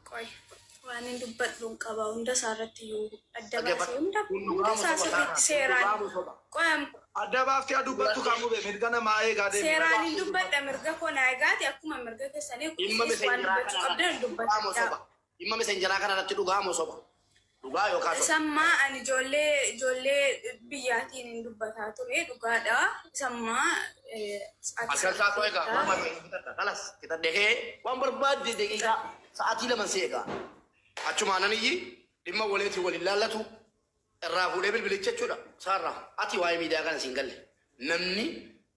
ቆይ waan hin dubbadhuun qaba hunda isaa irratti iyyuu adda baasee hunda hunda isaa sirriitti seeraan qoy adda baaftee dubbattu kan mube mirga namaa eegaa deemu. Seeraan hin dubbadha mirga koo naa eegaati akkuma mirga keessanii kunis waan dubbachuu qabdan hin dubbadha. Dhimma messengeraa kana irratti dhugaa moo soba? Dhugaa yookaa soba? Isamma ani ijoollee ijoollee biyyaatiin hin dubbataa ture dhugaadha isamma sa'aatii Asirratti kana haasoo egaa keessaa barbaadu hin fixadha. Kalas fixadhe kee waan barbaadde daqiiqaa sa'aatii laman si egaa. Achumaan nan iyyi dhimma waleetiin wal hin laallatu irraa fuudhee bilbilicha jechuudha. Saarraa ati waa'ee miidiyaa kana siin galle namni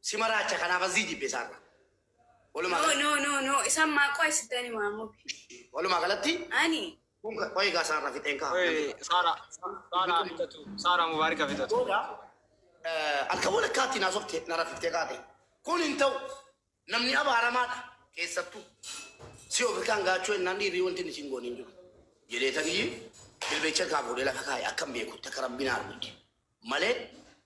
Si maraacha kanaaf azzii jibbe isaarra. Walumaa No, no, no, no. Isaan maaqoo isitani maamu. walumaa galatti Ani. kun ka- qo'ee gaa isaarra fixeen ka'a. Oye, Sara, Sara fitatu, Sara Mubarak fitatu. Booda eh, halkan walakkaatti naa softe na rafiftee kaate. Kun hin ta'u namni abaaramaadha keessattuu. Si ofirkaan gaachuu ennaan dhiirrii wanti inni siin goone hin jiru. Jedhee tanii jilbeecha kaa fuudhee lafa kaa'e akka hin beekutti akka rabbiin argutti. malee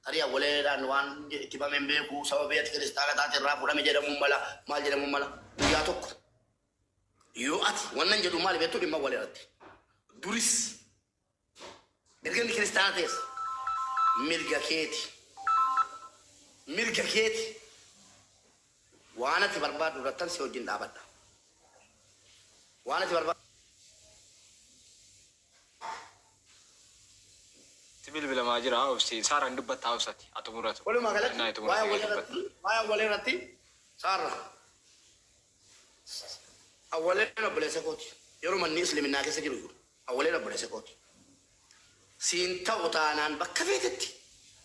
tarii awwaleedhaan waan itti bame hin beeku sababii ati kiristaana taate irraa fudhame jedhamuu mala maal jedhamuu mala guyyaa tokko yoo ati wannan jedhu maali beektu dhimma awwalee irratti duris erga inni kiristaana ta'es mirga keeti mirga keeti waan ati barbaaddu irrattan si wajjin dhaabadha waan ati barbaaddu Itti bilbilamaa jira obsi. Saaraan dubbatta obsati. Haa xumuratu. Walumaa galatti Ennaa itti waa'ee muratu dubbatta. awwalee irratti waa'ee awwalee irratti saarra awwaleen obboleessa kooti yeroo manni isliminnaa keessa jiru iyyuu awwaleen obboleessa kooti siin ta'u taanaan bakka feetetti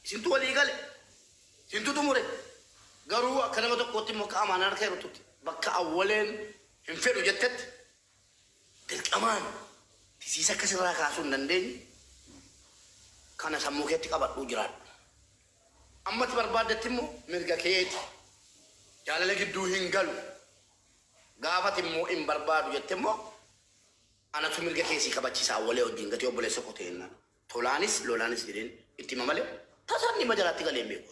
isintu walii gale isintu xumure garuu akka nama tokkootti immoo akka amaanaa harka irrattutti bakka awwaleen hin fedhu jettetti Dirqamaan tisiisa akka sirraa kaasuu hin dandeenye kana sammuu keetti qabadhuu jiraadhu. Amma ati barbaaddetti immoo mirga keeti. Jaalala gidduu hin galu. Gaafa ati immoo hin barbaadu jette immoo anatu mirga kee sii kabachiisa awwalee wajjin gatee obboleessa koo ta'e jennaan tolaanis lolaanis jedheen itti hima malee tasaan dhimma jalaatti galee hin beeku.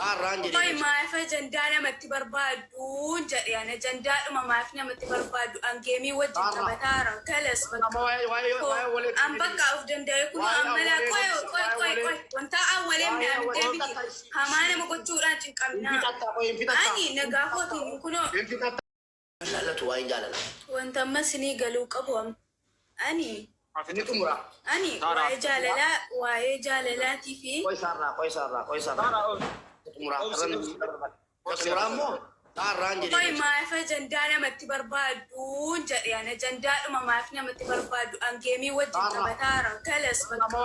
Xaarraan jedhee Qoy dhoyse. maaf ajandaa namatti barbaaddu? jedhe an ajandaadhuma maaf namatti barbaaddu an geemii wajjin Xaarraa. taphataara kalas Kun amma bakka waa'ee waa'ee Ko- waa'ee walee an deebi'e. bakka of danda'e kunoo Waa'ee ammalaa awwalee qoy deebisa, qoy waa'ee qoy walee. qoy wantaa awwalee Waa'ee midhaan awwalee. deebiti Wanta ta'i. hamaa nama gochuudhaan Hin cinqaminaa fixatta qoy hin fixatta. ani nagaa kootiin kunoo Hin fixatta. Jaalatu waa'een jaalalaa. Wanta amma isinii galuu qabu amma. Ani. Ni xumura. Ani waa'ee jaalalaa waa'ee jaalalaatii fi. Qoy saarraa qoy saarraa qoy saarraa. Xumuraa irra ni xumuraa. Xumuraa immoo saarraan jedhee. Qoy maaf ajandaa namatti barbaaddu jedhe ana ajandaadhuma maaf namatti barbaaddu an geemii wajjin taphataara galas bakka.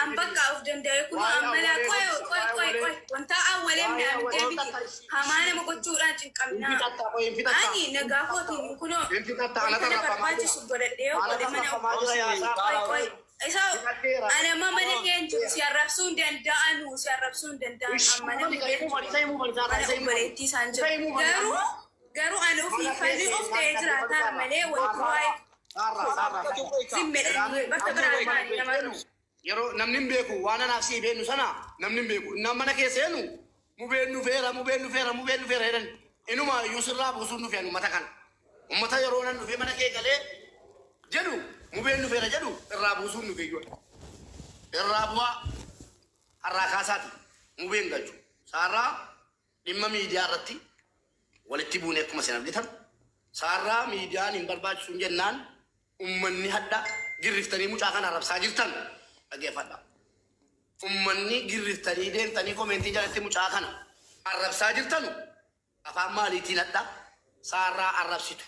An bakka of danda'e kun ammalaa qoy qoy qoy qoy wanta awwalee midhaan deebiti. hamaa nama gochuudhaan hin qabnaa. Ani nagaa kootiin kunoo wanta na barbaachisu godhadhee yoo godhe mana qoy qoy isa ana amma mana kee hin jiru si arrabsuu hin danda'anu si arrabsuu hin danda'an amma namni kee hin jiru mana obboleettii isaan jiru garuu garuu ani ofii falmii of ta'ee jiraataa malee wanti waa'ee zimmedhanii bakka biraa taa'anii nama Yeroo namni hin beeku waan anaaf si'i beennu sana namni hin beeku. Innaan mana kee seenu mubeen dhufeera, mubeen dhufeera, mubeen dhufeera jedhan. Inumaa iyyuu sirraa buusuun dhufe ani ummata kana. Ummata yeroo nan dhufee mana kee galee jedhu mubeen dhufeera jedhu irraa buusuun dhufe iyyuu ani. Irraa bu'aa har'aa kaasaati mubee hin galchu. Saarraa dhimma miidiyaa irratti walitti buune akkuma isin argitan. Saarraa miidiyaan hin barbaachisuun jennaan Ummanni hadha girriftanii mucaa kana arrabsaa jirtan dhageefadha. Ummanni girriftanii deemtanii komeentii jalatti mucaa kana arrabsaa jirtanu afaan maaliitiin hadha saarraa arrabsitu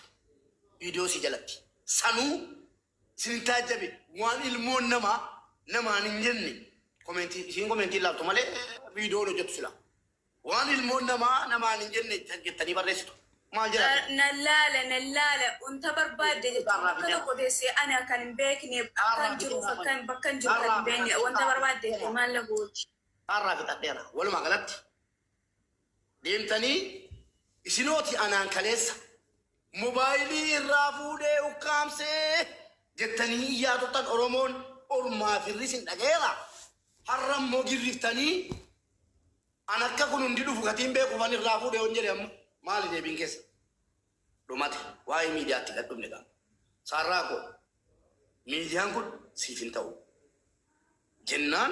viidiyoo isii jalatti. Sanuu isinin taajjabe waan ilmoon namaa namaan hin jenne komeentii isiin komeentii ilaaltu malee viidiyoon hojjettu silaa. Waan ilmoon namaa namaan hin jenne jettanii barreessitu. Maal jedha ati? Nan laala, nan laala. Wanta barbaadde jechuun bakka tokko teessee ani akkan hin beekne, akkan jiruuf akkan bakkan jiru kan hin beekne wanta barbaadde fi maal na gooti? Kaarraa fixadheera. Walumaa galatti deemtanii isinooti anaan kaleessa. Mobaayilii irraa fuudhee ukkaamse jettanii iyyaa turtan Oromoon ormaa firri isin dhagayeera. Har'a immoo girriftanii an akka kun hundi dhufu gatiin beekuuf an irraa fuudhe yoon jedhe amma maali deebiin keessa? Dhumate waa'ee miidiyaatti gad dhumne gaa. Saarraa koo miidiyaan kun siif hin ta'u jennaan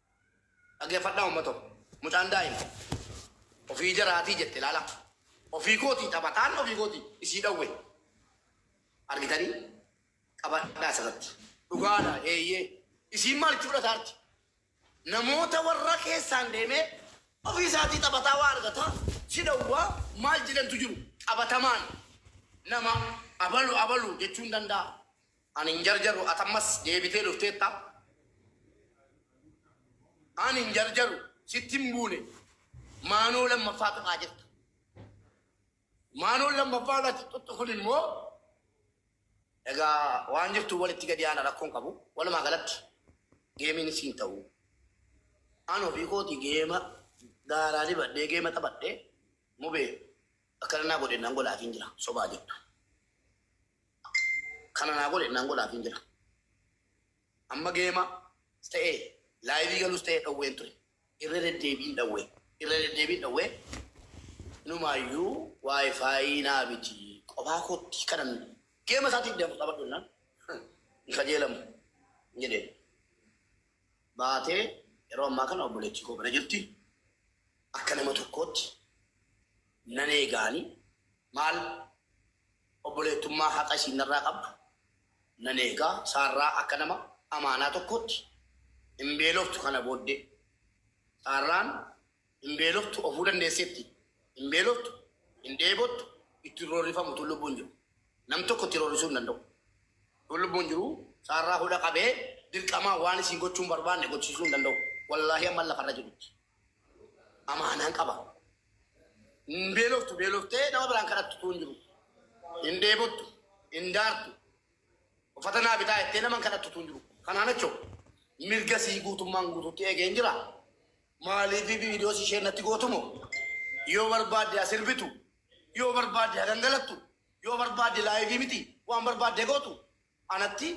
Dhageeffadhaa uummato. Mucaan daa'ima. Ofii jaraatii jette ilaala. Ofii kootii taphataan ofii kootii isii dhawwe. Argitanii? Qabadhaa asirratti. Dhugaadha eeyyee. Isiin maal itti fudhataarti? Namoota warra keessaan deemee ofii isaatii taphataa waa argataa si dhawwaa maal jedhantu jiru qabatamaan nama abalu abalu jechuun danda'a. Ani hin jarjaru ati ammas deebitee dhufteetta Ani hin jarjaru sitti hin buune maanoo lammaffaa tuqaa jirta Maanoon lammaffaa irratti tuttu kun immoo egaa waan jirtu walitti gadi aana rakkoon qabu walumaa galatti geemiin siin ta'u An ofii kooti geema daaraa dibadhee geema taphadhee mubee akkana naa godhe nan godhaatiin jira sobaa jirtu Kana naa godhe naan godhaafiin jira. Amma geema ta'ee laayivii galus ta'ee dhowween ture. Irra deddeebiin dhowwee irra deddeebiin dhowwee inumaayyuu waayifaayii naa biti qofaa kootti kanan geema isaatiif deemu taphadhu jennaan hin kajeelamu hin jedheen. Baatee yeroo ammaa kana obboleettii koo bira jirti. Akka nama tokkootti nan eegaani maal Obboleettummaa haqa isiin narraa qabdu nan eega, Saarraa akka nama amaanaa tokkootti hin beeloftu kana booddee. Saarraan hin beeloftu ofuu dandeesseetti, hin beeloftu, hin dheebottu, itti hin roorrifamu utuu lubbuun jiru. Nam tokko itti roorrisuu hin danda'u. Utuu lubbuun jiru Saarraa hudha qabee dirqamaan waan isiin gochuu hin barbaanne gochisiisuu hin danda'u, wallaahi amman lafarra jirutti. amaanaan qaba. Hin beeloftu beeloftee nama biraan kadhattu tuun jiru. Hin dheebottu, hin daartu. Uffata naa bitaa jettee nama hin kadhattu tuun jiru. Kanaan achoo mirga sii guutummaan guututti eegeen jira. Maaliif viidiyoo si isheen natti gootumo? Yoo barbaadde as sirbitu, yoo barbaadde hagangalattu, yoo barbaadde laayivii miti waan barbaadde gootu. anatti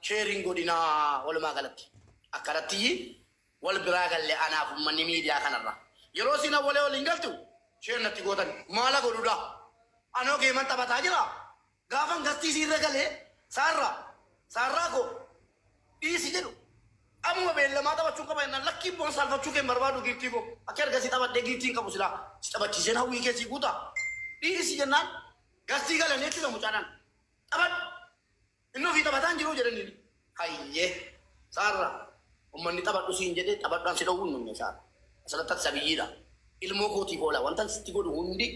share hin godhinaa walumaa galatti akkanattiyi wal biraa galle anaaf ummanni miidiyaa kanarraa yeroo isiin awwalee waliin galtu share natti gootan maala godhudaa anoo geeman taphataa jira gaafan gastii isiirra galee saarraa saarraa koo dhiisi jedhu ammuma beellamaa taphachuun qaba jennaan lakkii boon saalfachuu kee hin barbaadu giiftii koo akka erga si taphadhee giiftii hin qabu silaa si taphachiiseen hawwii kee sii guuta dhiisi jennaan gastii galanii jechuudha mucaadhaan Taphadhu! Inni ofii taphataa hin jiruu? jedhaniin. Hayyee! Saarra! Ummanni taphadhu siin jedhee taphadhu an si dhowwuu hin dhumne Saarra. Asirratti ati sabiyyiidha. Ilmoo kootiif oola. Wantan sitti godhu hundi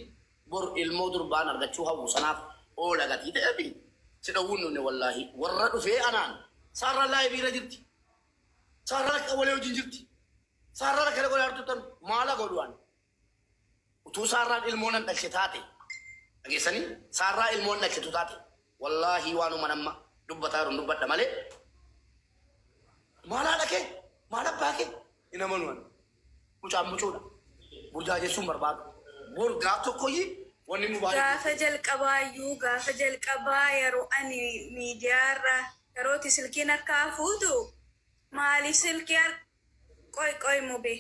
bor ilmoo durbaan argachuu hawwu sanaaf oola gatii ta'eefi si dhowwuu hin dhumne wallaahii. Warra dhufee anaan. Saarraan live irra jirti. Saarraan akka walee wajjin jirti. Saarraan akkana godhaa jirtu tan maala godhu ani? Utuu Saarraan ilmoo nan dhalche taate, dhageessanii? Saarraa ilmoo hin dhalchitu taate. Wallaahii waanuman amma dubbataa jirun dubbadha malee maal haadha kee? Maal abbaa kee? Hin amanu ani. Mucaan mucuudha. Burdaa jechuun barbaadu. Bor gaaf tokkoyyii wanni nu baay'ee Gaafa jalqabaayyuu gaafa jalqabaa yeroo ani miidiyaarra yerooti silkiin harkaa fuutu maaliif silkii har- Qoy qoy mube.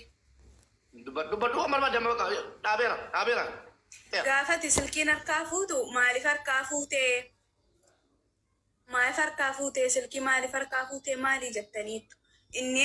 Dubbadhu dubbadhu waan barbaadde amma bakka dhaabeera dhaabeera. Dheera. Gaafati silkiin harkaa fuutu maalif harkaa fuutee maalif harkaa fuutee silkii maalif harkaa fuutee maalii jettaniittu inni